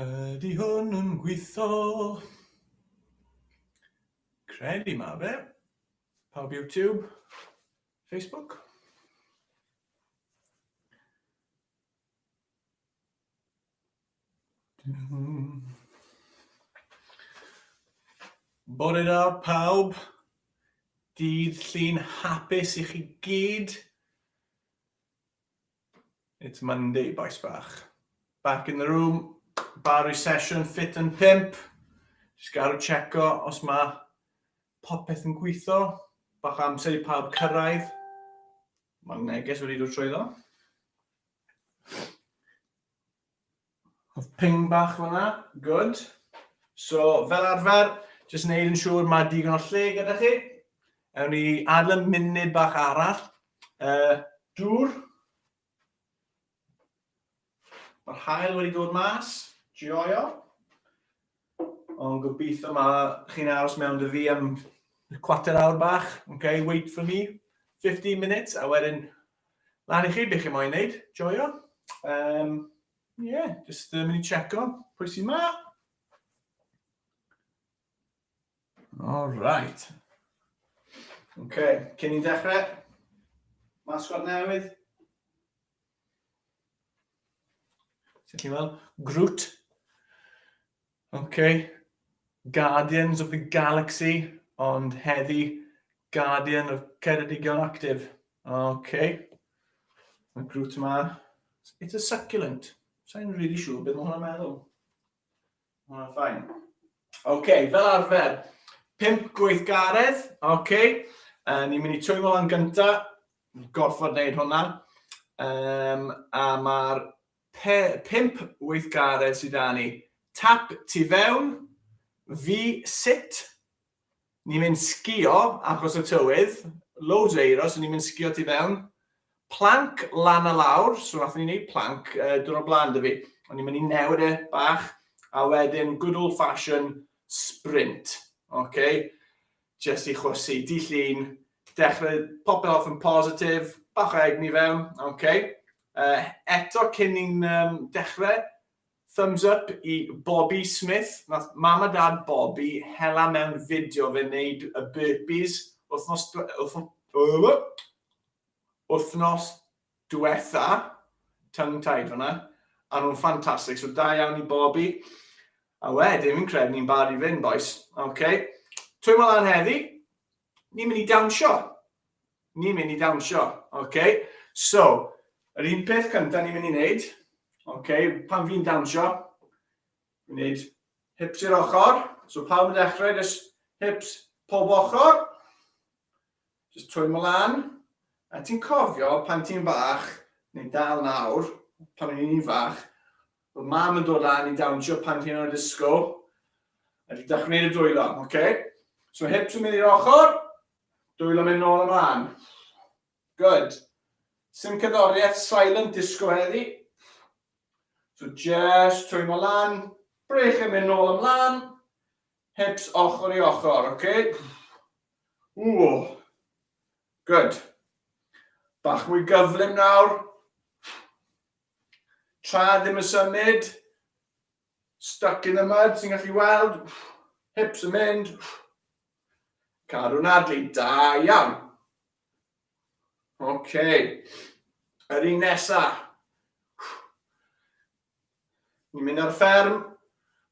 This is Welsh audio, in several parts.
Ydy hwn yn gweithio? Credu ma fe. Pawb YouTube, Facebook. Bore da pawb, dydd Llun hapus i chi gyd. It's Monday, boys bach. Back in the room, Barry Session, Fit and Pimp. Just gael checo os mae popeth yn gweithio. Bach amser i pawb cyrraedd. Mae'r neges wedi dod trwyddo. Oedd ping bach fyna, good. So, fel arfer, jyst wneud yn siŵr mae digon o lle gyda chi. Ewn ni adlen munud bach arall. Uh, dŵr. Mae'r hael wedi dod mas, joio. Ond gobeithio mae chi'n aros mewn dy fi am cwater awr bach. Okay, wait for me, 15 minutes, a wedyn lan i chi beth chi moyn wneud, joio. Um, yeah, just uh, mynd i checo pwy sy'n ma. All right. OK, cyn i'n dechrau, masgod newydd. Sut ti'n fel? Groot. OK. Guardians of the Galaxy, ond heddi Guardian of Ceredigion Active. OK. Mae Groot yma. It's a succulent. Sa'n really siŵr beth mae hwnna'n meddwl. Mae hwnna'n ffain. OK, fel arfer, pimp gweithgaredd, OK. Uh, ni'n mynd i twymo lan gynta, gorfod wneud hwnna. Um, a mae'r pimp weithgaredd sydd â ni. Tap tu fewn, fi sit, Ni'n mynd sgïo achos y tywydd, loads o eiro so ni'n mynd sgïo tu fewn. Planc lan a lawr, so nathon ni neud planc yy diwrnod blaen 'da fi. O'n i'n mynd i newid e bach a wedyn good old fashion sprint. Ocê? Jyst i chwysu, dydd Llun, dechrau popeth off yn positif, bach o egni fewn, ocê? Yy eto cyn i'n yym dechre, Thumbs up i Bobi Smith, nath mam a dad Bobi hela mewn fideo fe neud y burpees wthnos wthnos dwetha, tongue tied fanna, a nhw'n ffantastig, so da iawn i Bobi. A wedyn fi'n credu ni'n barod i fynd bois, ok. Twym o lan heddi, Ni'n mynd i dawnsio. Ni'n mynd i dawnsio. Okay? So, yr un peth cyntaf ni'n mynd i wneud, okay, pan fi'n dawnsio, wneud hips i'r ochr. So pawb yn dechrau, just hips pob ochr. Just trwy mlaen. A ti'n cofio pan ti'n bach, neu dal nawr, pan o'n i'n fach, Fy mam yn dod lan i dawnsio pan ti'n o'r disco. A di dach wneud y dwylo, oce? Okay? So hips yn mynd i'r ochr, dwylo mynd nôl ymlaen. Good. Sim cyddoriaeth silent disco heddi. So just twymo lan, brech yn mynd nôl ymlaen, hips ochr i ochr, oce? Okay? Ww. Good. Bach mwy gyflym nawr. Tra ddim yn symud. Stuck in the mud, ti'n gallu weld. Hips yn mynd. Cadw'n adlu, da iawn. OK. Yr un nesa. Ni'n mynd ar fferm.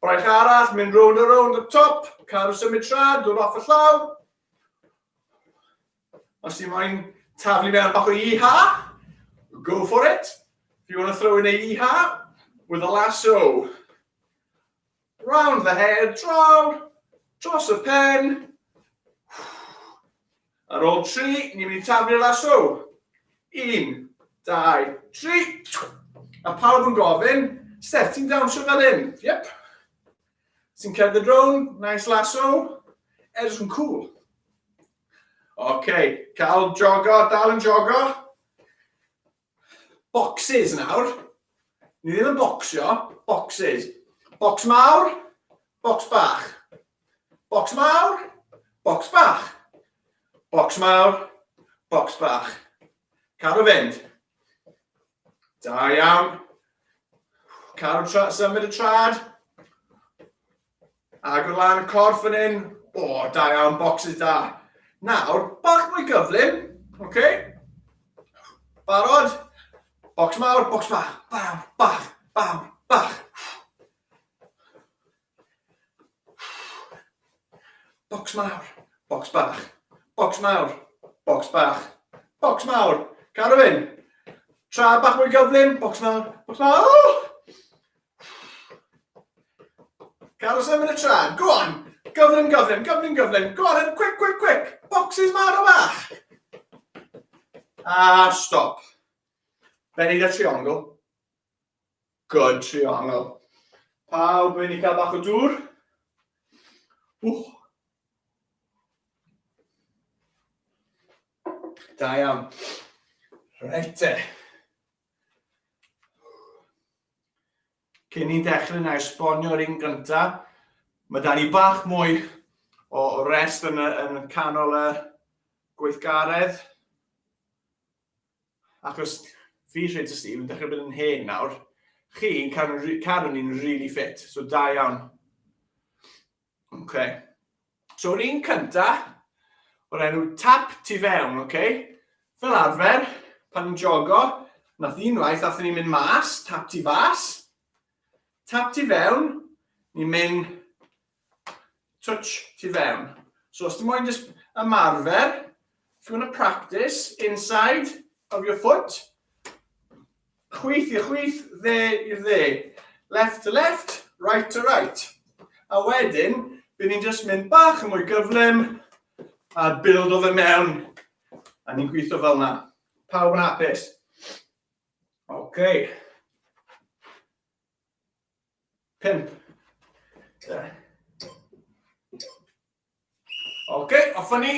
Braich arall, mynd rownd a rownd y top, cadw symud tra, dod off y llaw. Os ti'n moyn taflu mewn bach o iha, go for it. If you want to throw in a iha, with a lasso. Round the head, draw, dros y pen, Ar ôl tri, ni'n mynd i taflu'r lasso. Un, dau, tri. A pawb yn gofyn, Steph, ti'n dawnsio fel hyn? Yep. Ti'n cerdded rown, nice lasso, edrych yn cool. Oce, okay. cael jogo, dal yn jogo. Bocsys nawr. Ni ddim yn bocsio, bocsys. Bocs mawr, bocs bach. Bocs mawr, bocs bach. Bocs mawr, bocs bach. Cadw fynd. Da iawn. Cadw tra, symud y trad. Agor lan y corff fan hyn. O, oh, da iawn, boxes da. Nawr, bach mwy gyflym, oce? Okay? Barod? Box mawr, box bach, bam, bach, bam, bach. Box mawr, box bach, box mawr, box bach, box mawr. Carwyn, tra bach mwy gyflym, box mawr, box mawr. Caros am yn y traed. Go on. Gyflym, gyflym, gyflym, gyflym. Go on, quick, quick, quick. Boxes maro bach. A stop. Fe'n neud y triongl. Good triongl. Pawb yn i cael bach o dŵr. Wch. Da iawn. Reit te. Cyn ni'n dechrau na esbonio'r un gyntaf, mae da ni bach mwy o rest yn, yn canol y gweithgaredd. Achos fi rhaid y Steve yn dechrau bod yn hen nawr. Chi'n cadw, cadw ni'n really fit, so da iawn. Oce. So yr un cynta, o'r enw tap tu fewn, oce? Fel arfer, pan ni'n jogo, nath unwaith, nath ni'n mynd mas, tap tu fas, tap tu fewn, ni'n mynd touch tu fewn. So os ti'n moyn jyst ymarfer, If you want to practice inside of your foot, chwith i'r chwith, dde i'r dde. Left to left, right to right. A wedyn, bydd ni'n just mynd bach yn mwy gyflym a build o fe mewn. A ni'n gweithio fel yna. Pawb yn apus. Okay. Pimp. Yeah. Ok, off â ni.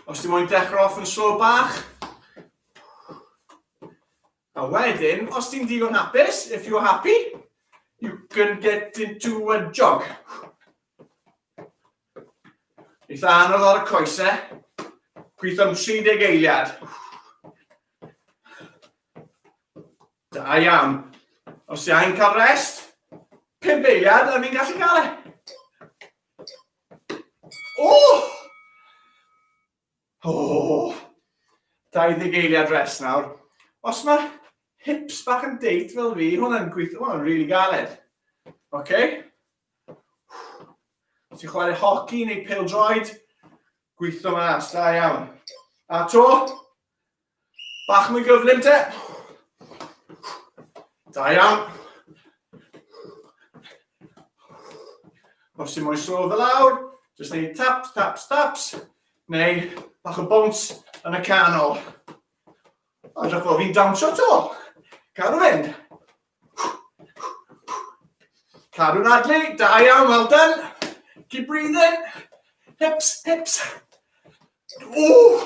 Os ti moyn dechrau off yn slow bach. A wedyn, os ti'n digon hapus, if you're happy, you can get into a jog. Eitha anodd ar y coesau. Gweithio'n 30 eiliad. Da iawn. Os ti angen cael rest, pump eiliad a fi'n gallu cael e. O! O! 20 eiliad rest nawr. Os mae hips bach yn deit fel fi, hwnna'n gweithio, hwnna'n rili galed. OK? Os ti'n chwarae hoci neu pêl-droed, gweithio mas, da iawn. A to, Bach mwy gyflym te. Da iawn. Os ti'n mwy slo fel awr, jyst neud taps, taps, taps, neu bach o bwns yn y canol. O, dych o, fi'n dawnsio to. Cadw fynd. Cadw'n adlu, da iawn, well done. Keep breathing. Hips, hips. Ooh.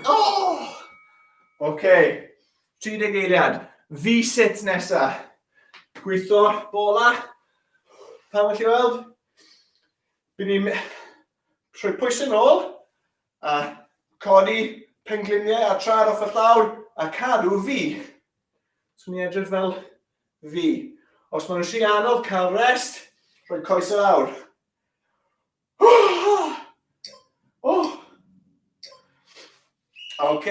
Oh. OK, 30 eiliad. Fi sit nesa. Gweithio bola. Pan wych chi weld? Bydd ni'n trwy pwysyn ôl. A codi pengliniau a traed off y llawr a cadw fi. Swn i'n edrych fel fi. Os maen nhw'n si anodd cael rest, rhoi coes yr awr. Oh! oh. OK,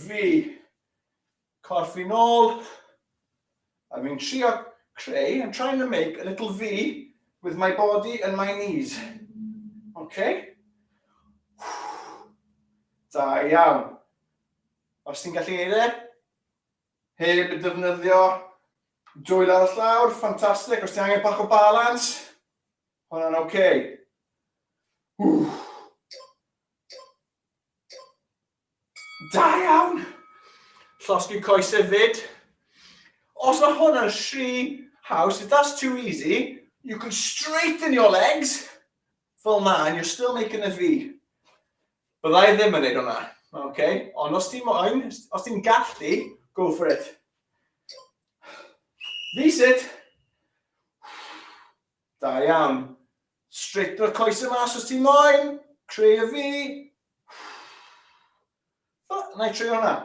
fi. Corff fi nôl. A fi'n trio creu, I'm trying to make a little V with my body and my knees. OK? Da iawn. Os ti'n gallu ei e, heb y defnyddio dwyl ar y llawr, ffantastig. Os ti angen bach o balans, hwnna'n oce. Okay. Da iawn! Llosgi coes hefyd. Os mae hwnna'n rhy haws, if that's too easy, you can straighten your legs fel na, and you're still making a V. Bydda i ddim yn neud hwnna. Okay? Ond os ti'n moyn, os ti'n gallu, go for it. V-sit. Da iawn. Straighten y coesau mas os ti moyn. Creu y fi. Na i treu hwnna.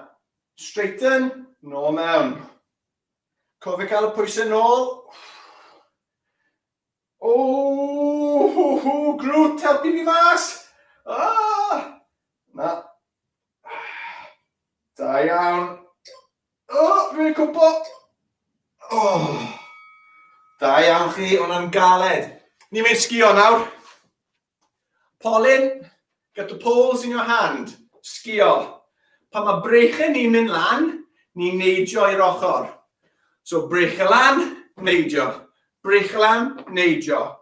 Straighten, nôl mewn. Cofio cael y pwysau nôl. O, hw, hw, grwt, helpu fi mas. Ah! Na. Da iawn. O, rwy'n gwybod! O! Da iawn chi, ond am galed. Ni'n mynd sgio nawr. Polyn, get the poles in your hand. Sgio. Pan mae breichau ni'n mynd lan, ni'n neidio i'r ochr. So breichau lan, neidio. Breichau lan, neidio.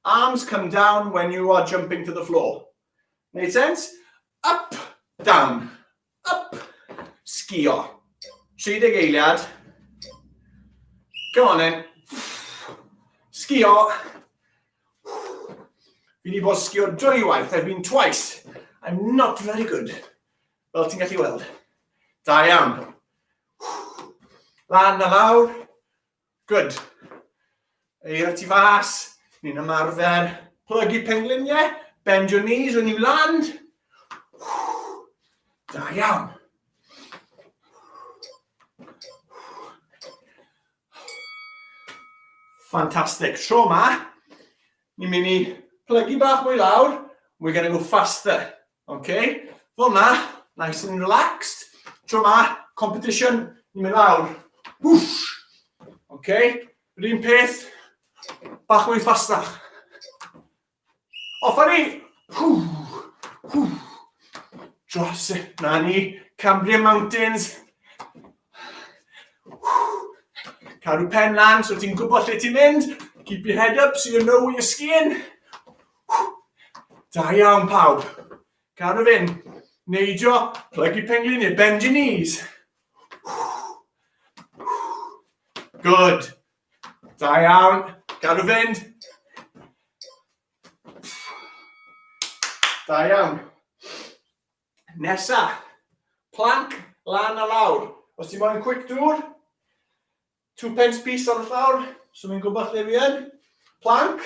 Arms come down when you are jumping to the floor. Made sense? Up, down. Up! Sgio. 30 eiliad. Go on then. Sgio. Fi wedi bod sgio dwywaith, I've been twice. I'm not very good. Fel ti'n gallu weld. Da iawn. Lan a lawr. Good. Eira ti fas, ni'n ymarfer. Plygu pengliniau, bend your knees when you land. Da iawn. Fantastic. Tro ma, Ni'n mynd i plygu bach mwy lawr, and we're going to go faster. Okay? Fel na, nice and relaxed. Tro ma, competition, ni'n mynd lawr. Whoosh! Okay? Yr un peth, bach mwy ffastach. Off ni! Dros, na ni, Cambrian Mountains, Cadw pen lan, so ti'n gwybod lle ti'n mynd. Keep your head up, so you know where you're skiing. Da iawn, pawb. Cadw fyn. Neidio, plygu penglin neu bend your knees. Good. Da iawn. Cadw fyn. Da iawn. Nesa, plank lan a lawr. Os ti moyn quick dŵr, two pence piece ar y llawr, so fi'n gwybod lle fi yn. Plank,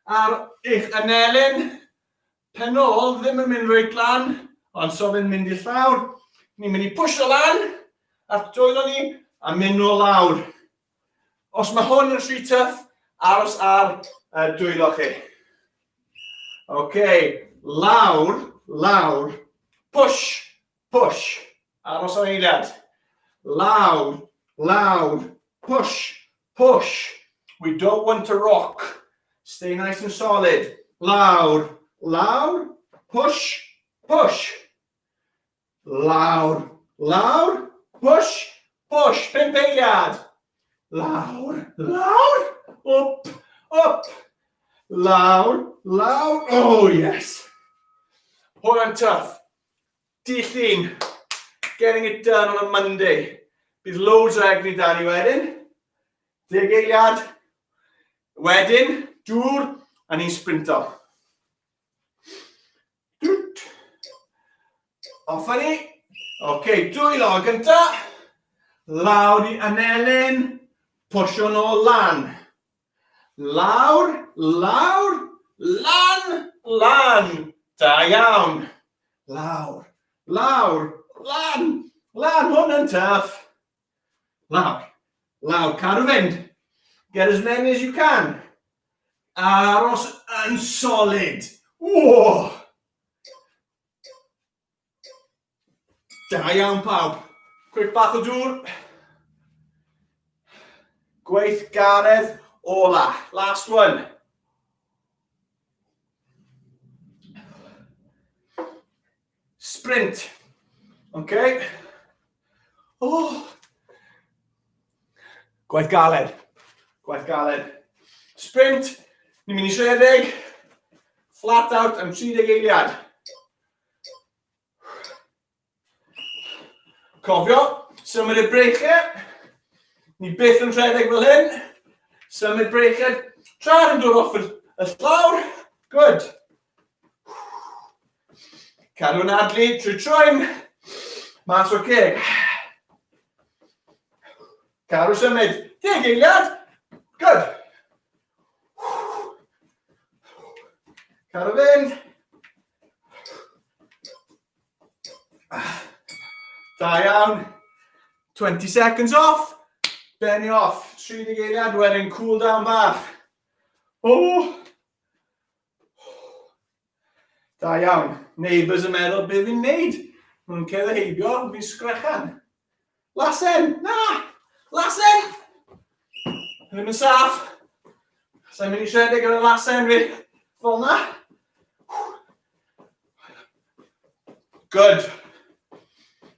ar eich anelyn, pen ôl ddim yn mynd reit lan, ond so fi'n mynd i'r llawr. Ni'n mynd i pwysio lan, a'r dwylo ni, a mynd nôl lawr. Os mae hwn yn rhy tuff, aros ar y dwylo chi. OK, lawr, lawr, push, push, aros am eiliad. Lawr, lawr, push, push. We don't want to rock. Stay nice and solid. Lawr, lawr, push, push. Lawr, lawr, push, push, pump eiliad. Lawr, lawr, up, up. Lawr, lawr, oh yes. Hwyl yn tuff. Di llun. Getting it done on a Monday. Bydd loads o egni da ni wedyn. Deg eiliad. Wedyn, dŵr, a ni'n sprinto. Off a ni. Ok, dwy law gynta. Lawr i anelyn. Pwysio nôl lan. Lawr, lawr, lan, lan. Da iawn. Lawr, lawr, lan, lan. Hwn yn tuff. Lawr. Lawr. Cadw fynd. Get as many as you can. A aros yn solid. Whoa! Da iawn pawb. Quick bach o dŵr. Gweith garedd ola. Last one. Sprint. OK. O! Oh. Gwaith galed. Gwaith galed. Sprint. Ni'n mynd i rhedeg. Flat out am 30 eiliad. Cofio, symud y breichau. Ni byth yn rhedeg fel hyn. Symud breichau. Tra'r yn dod off y llawr. Good. Cadw yn adlu trwy troi'n mas o'r ceg. Cadw symud. Deg eiliad. Good. Cadw fynd. Da iawn. 20 seconds off. Benny off. 30 eiliad wedyn cool down bach. Oh. Da iawn. Neighbours yn meddwl beth fi'n neud. Nhw'n cerdded heibio, fi'n sgrechan. Lasen! Na! Lasen! Ddim yn saff. Sa'n mynd i siarad gyda lasen fi. Fel na. Good.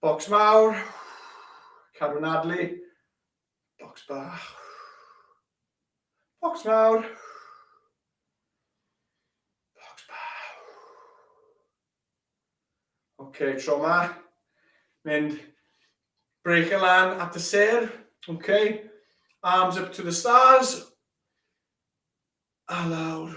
Bocs mawr, cadw'n nadlu, bocs bach, bocs mawr, bocs bach. Oce, okay, tro ma, mynd break y lan at y ser, oce, okay. arms up to the stars, a lawr,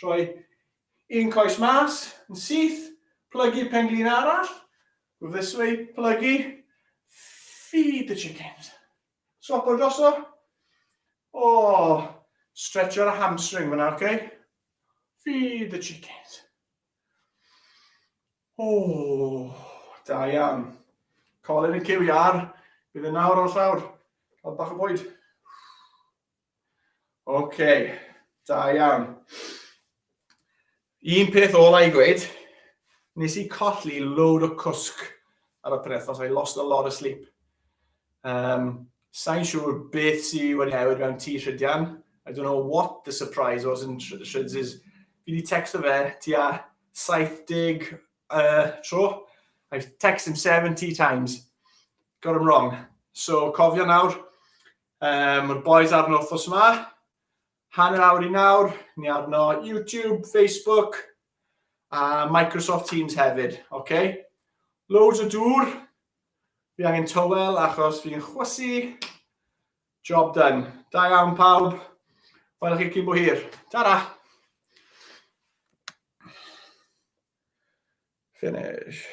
Rhoi un coes mas, yn syth, plygu penglin arall, Rwyf this way, plygu, feed the chickens. Swap o droso. O, stretch o'r hamstring fyna, oce? Okay? Feed the chickens. O, da iawn. Colin yn cyw iar, bydd yn nawr o'r llawr. Cael bach o bwyd. OK, da iawn. Un peth ola i gweud, nes i colli load o cwsg ar y penethos, I lost a lot of sleep. Um, Sa'n siŵr beth sy'n wedi newid mewn ti Rhydian. I don't know what the surprise was in Rhyds is, fi wedi text o fe ti a 70 uh, tro. I text him 70 times. Got him wrong. So cofio nawr, Um, Mae'r boys arno wrthos yma. Hanner awr i nawr, ni arno YouTube, Facebook, a Microsoft Teams hefyd. Okay? Loads o dŵr. Fi angen tywel achos fi'n chwysu. Job done. Da iawn pawb. Welwch chi cyn bo hir. Ta-ra! Finish.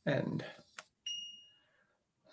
End.